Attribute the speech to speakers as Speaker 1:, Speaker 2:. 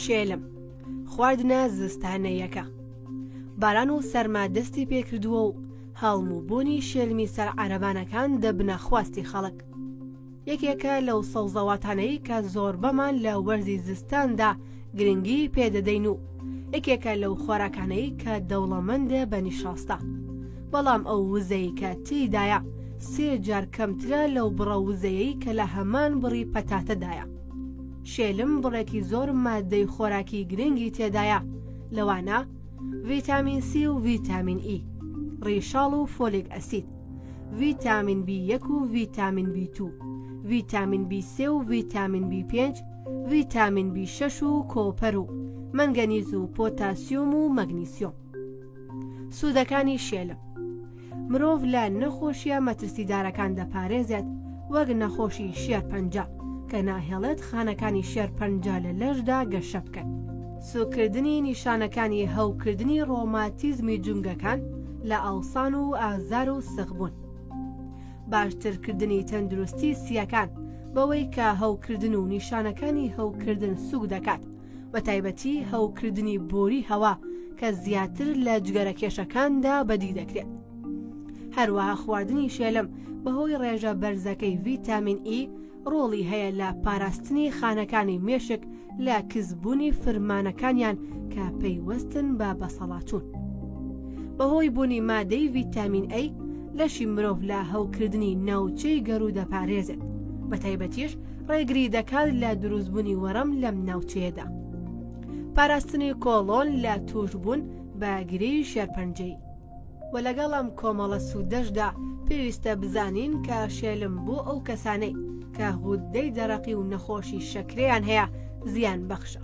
Speaker 1: شێلم خواردنە زستانەیەکە باران و سەرما دەستی پێکردووە و هەڵم و بوونی شێلمی سەر عەرەبانەکان دەبنە خواستی خەڵک یەکێکە لەو سەوزەواتانەی کە زۆربەمان لە وەرزی زستاندا گرنگی پێدەدەین و یەکێکە لەو خۆراکانەی کە دەوڵەمەندە بە نیشاستە بەڵام ئەو وزەی کە تێیدایە سێ جار کەمترە لەو بڕە وزەیەی کە لە هەمان بڕی پەتاتەدایە شێلم بڕێکی زۆر مادەی خۆراکی گرنگی تێدایە لەوانە ڤیتامین سی و ڤیتامین ئی ڕیشاڵ و فۆلێک ئەسید ڤیتامین بی یەک و ڤیتامین بی تو ڤیتامین بی سێ و ڤیتامین بی پێنج ڤیتامین بی شەش و کۆپەر و مەنگەنیز و پۆتاسیۆم و مەگنیسیۆم سوودەکانی شێلم مرۆڤ لە نەخۆشیە مەترسیدارەکان دەپارێزێت وەک نەخۆشی شێرپەنجە کە ناهێڵێت خانەکانی شێرپەنجە لە لەشدا گەشە بکەن سووککردنی نیشانەکانی هەوکردنی ڕۆماتیزمی جومگەکان لە ئاوسان و ئازار و سخبوون. باشترکردنی تەندروستی سییەکان بەوەی کە هەوکردن و نیشانەکانی هەوکردن سووک دەکات، بەتایبەتی هەوکردنی بۆری هەوا کە زیاتر لە جگەرە کێشەکاندا بەدی دەکرێت. هەروەها خواردنی شێلم بەهۆی ڕێژە بەرزەکەی ڤیتامین ئی، ڕۆڵی هەیە لە پاراستنی خانەکانی مێشک لە کزبوونی فرمانەکانیان کە پەیوەستن بە بەسەڵاچوون. بەهۆی بوونی مادەی ڤیتامین ئەی لەشی مرۆڤ لە هەوکردنی ناوچەی گەڕوو دەپارێزێت بە تایبەتیش ڕێگری دەکات لە دروستبوونی وەڕم لەم ناوچەیەدا. پاراستنی کۆڵۆن لە تووشبوون بە گرێی شێرپەنجەی وە لەگەڵ ئەم کۆمەڵە سوودەشدا پێویستە بزانین کە شێلم بۆ ئەو کەسانەی کە غوددەی دەرەقی و نەخۆشی شەکرەیان هەیە زیان بەخشە.